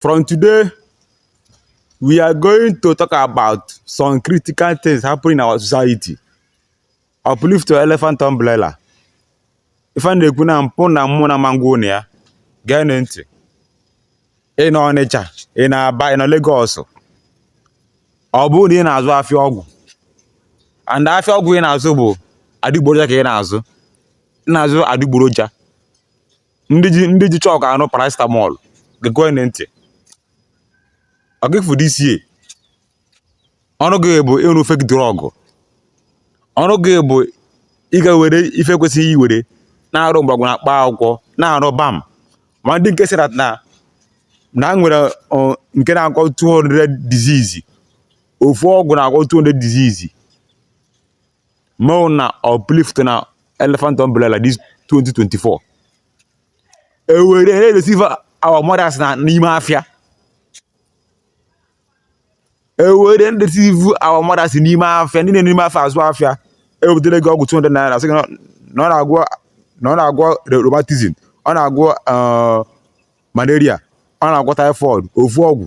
From today, we are going to talk about some critical things happening in our society. Uplift your elephant umbrella. Ife a na-ekwu na mpụ na mmụ na mango na ya gee na ntị ị nọ Ọnịcha ị nọ Aba ị nọ Lagos ọ bụrụ na ị na-azụ afịa ọgwụ and afịa ọgwụ ị na-azụ bụ adịgboroja ka ị na-azụ ị na-azụ adịgboroja ndị ji ndị ji chalk arụ paracetamol gekwe nụ ntị ọ ga-efu this year. ọrụ gị bụ ịrụ fake drug ọrụ gị bụ ịga were ife e kwesịghị iwere na-arụ mgbọrọgwụ na mkpa akwụkwọ na-arụ balm ma ndị nke sịra na na a nwere ọ, nke na-agwọ 200 disease ofu ọgwụ na-agwọ 200 disease make una uplift una elephant umbrella this 2024 e were na-edeceive our mothers na n'ime afịa e were na-edeceive our mothers n'ime afịa ndị na-eme n'ime afịa azụ afịa e wetara gị ọgwụ 200 naira sị gị na na ọ na-agwọ na ọ na-agwọ re- rheumatism ọ na-agwọ eh, malaria ọ na-agwọ typhoid ofu ọgwụ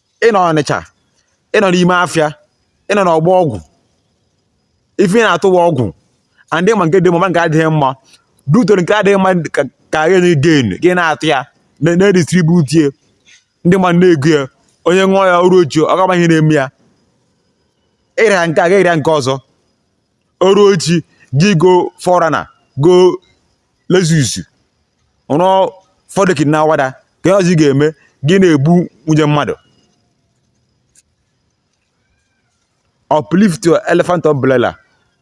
ị nọ Ọnịcha ị nọ n'ime afịa ị nọ n'Ọgbọ Ọgwụ ife ị na-atụwa ọgwụ and ma nke dị mma nke adịghị mma due to na nke adịghị mma ka gị nye gain gị na-atụ ya na-edistribute ya ndị mmadụ na-ego ya onye ṅụọ ya o ruo echi ọ gaba ihe na-eme ya ịrịa nke a ga-erịa nke ọzọ o ruo echi gị goo 4Runner goo Lexus rụọ four decking na Awada kee ihe ọzọ ị ga-eme gị na-egbu nwunye mmadụ uplift your elephant umbrella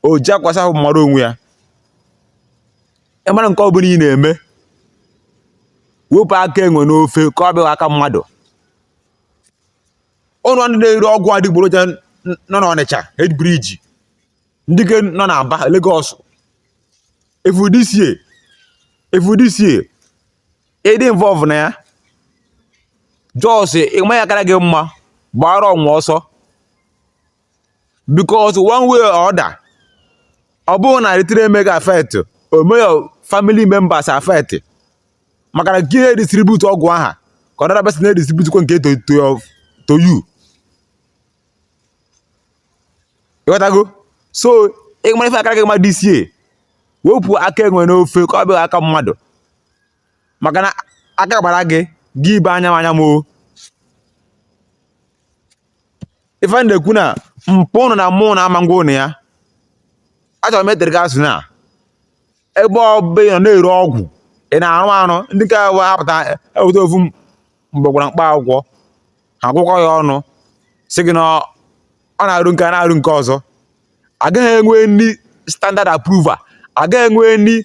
o ji akwa asa ahụ mara onwe ya ị mara nke ọ bụla ị na-eme wepụ aka enwe n'ofe ka ọ bịaghị aka mmadụ unuwa ndị na-ere ọgwụ adịgboroja nọ n'Ọnịcha Head Bridge ndị nke nọ na Aba Lagos efu this year efu this year ị dị involve na ya just ị ma ihe kara gị mma gbara onwe ọsọ because one way or other ọ bụrụ na directly emeghị affect o mee your family members affect maka na gị na-edistribute ọgwụ ahụ ka another person na-edistribute kwa nke to to you ịghọtago so ị mara ife aka gị mmadụ isie wepụ aka enwe n'ofe ka ọ bịa aka mmadụ maka na aka kpara gị gị ebee anya m anya m o ife a na-ekwu na mpụ ụnụ na mmụọ na-ama ngwa ụnụ ya achọrọ m etere gị asụ na ebe ọbụla ị nọ na-ere ọgwụ ị na-arụ arụ ndị nke wee apụta eweta ofu m- mgbọrọgwụ na mkpa akwụkwọ ha gwakọọ ya ọnụ sị gị na ọ na-arụ nke a na-arụ nke ọzọ agaghị enwe any standard approval agaghị enwe any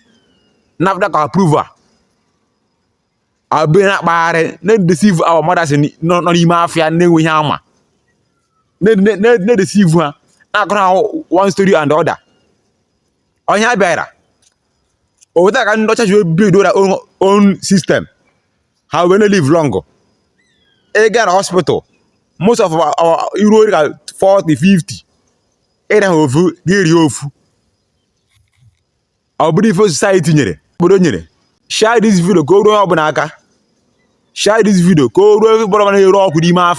NAFDAC approval abịa na-akpagharị na-edeceive ọha mmadụ nọ n'ime afịa na-enweghị ihe ha ma na-edeceive ha na-akọrọ ha one story and other onye a bịara ọ bụ etu a ka ndị ọcha ji build their own own system ha wee na live long ị gaa na hospital most of our iru ori ka 40 50 ị ree ha ofu gị rie ofu ọ bụrụ ife society nyere obodo nyere share this video ka o ruo onye ọbụla aka share this video ka o ruo onye ọbụla na-ere ọgwụ n'ime afịa